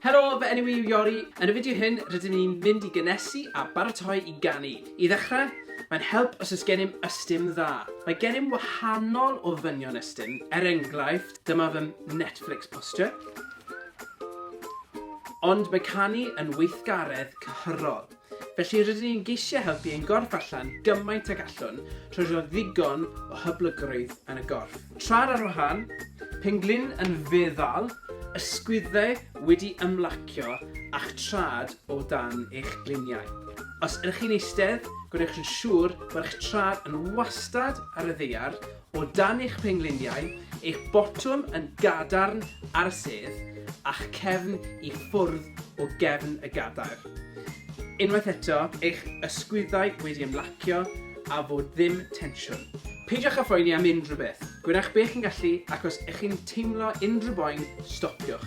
Helo, fy enw i yw Iori. Yn y fideo hyn, rydyn ni'n mynd i gynnesu a baratoi i ganu. I ddechrau, mae'n help os oes gennym ystum dda. Mae gennym wahanol ofynion ystum, er enghraifft, dyma fy Netflix posture, ond mae canu yn weithgaredd cyhyrol. Felly rydyn ni'n geisio helpu ein gorff allan gymaint ag allwn trwy roi ddigon o hyblygrwydd yn y gorff. Traed ar wahân, penglin yn feddal, ysgwyddau wedi ymlacio a'ch traed o dan eich gliniau. Os ydych chi'n eistedd, gwnewch yn siŵr bod eich traed yn wastad ar y ddaear O dan eich pengliniau, eich botwm yn gadarn ar y sedd, a'ch cefn i ffwrdd o gefn y gadair. Unwaith eto, eich ysgwyddau wedi ymlacio a fod ddim tensiwn. Peidiwch â phoeni am unrhyw beth. Gwnewch be chi'n gallu ac os ych chi'n teimlo unrhyw boen, stopiwch.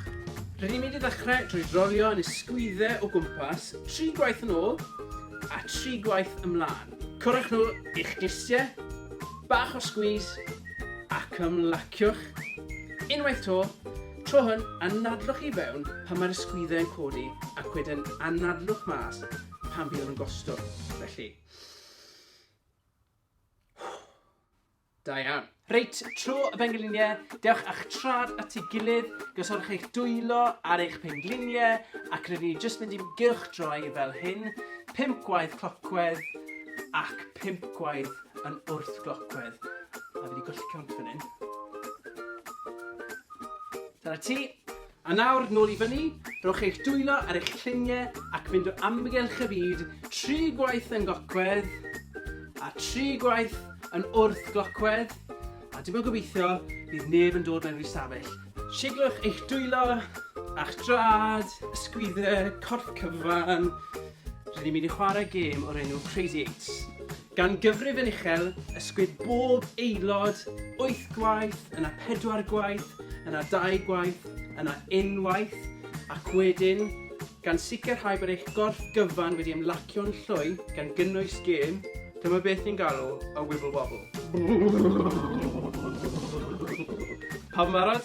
Rydyn ni'n mynd i ddechrau drwy drolio yn ysgwyddau o gwmpas tri gwaith yn ôl a tri gwaith ymlaen. Cwrwch nhw i'ch disiau, bach o sgwis ac ymlaciwch. Unwaith to, tro hwn anadlwch i fewn pan mae'r ysgwyddau yn codi ac wedyn anadlwch mas pan fydd yn gostwng. Felly, Da iawn. Reit, tro y bengliniau, dewch â'ch trad at ei gilydd, gosodwch eich dwylo ar eich pengliniau, ac rydyn ni jyst mynd i'n gylchdroi fel hyn, pimp gwaith clocwedd ac pimp gwaith yn wrth glocwedd. A fi wedi golli cont fan hyn. Dyna ti. A nawr, nôl i fyny, rhowch eich dwylo ar eich lluniau ac mynd o amgylch y byd, tri gwaith yn gocwedd, a tri gwaith yn wrthglocwedd, a dim ond gobeithio bydd neb yn dod mewn i'r stafell. Siglwch eich dwylo, a'ch draed, ysgwyddau, corff cyfan, rydyn ni'n mynd i chwarae gêm o'r enw Crazy Eights. Gan gyfrif yn uchel, ysgwyd bob aelod, wyth gwaith, yna pedwar gwaith, yna dau gwaith, yna unwaith, ac wedyn, gan sicrhau bod eich gorff gyfan wedi ymlacio'n llwy, gan gynnwys gêm, dyma beth ni'n galw y wibble wobble. Pawb yn barod?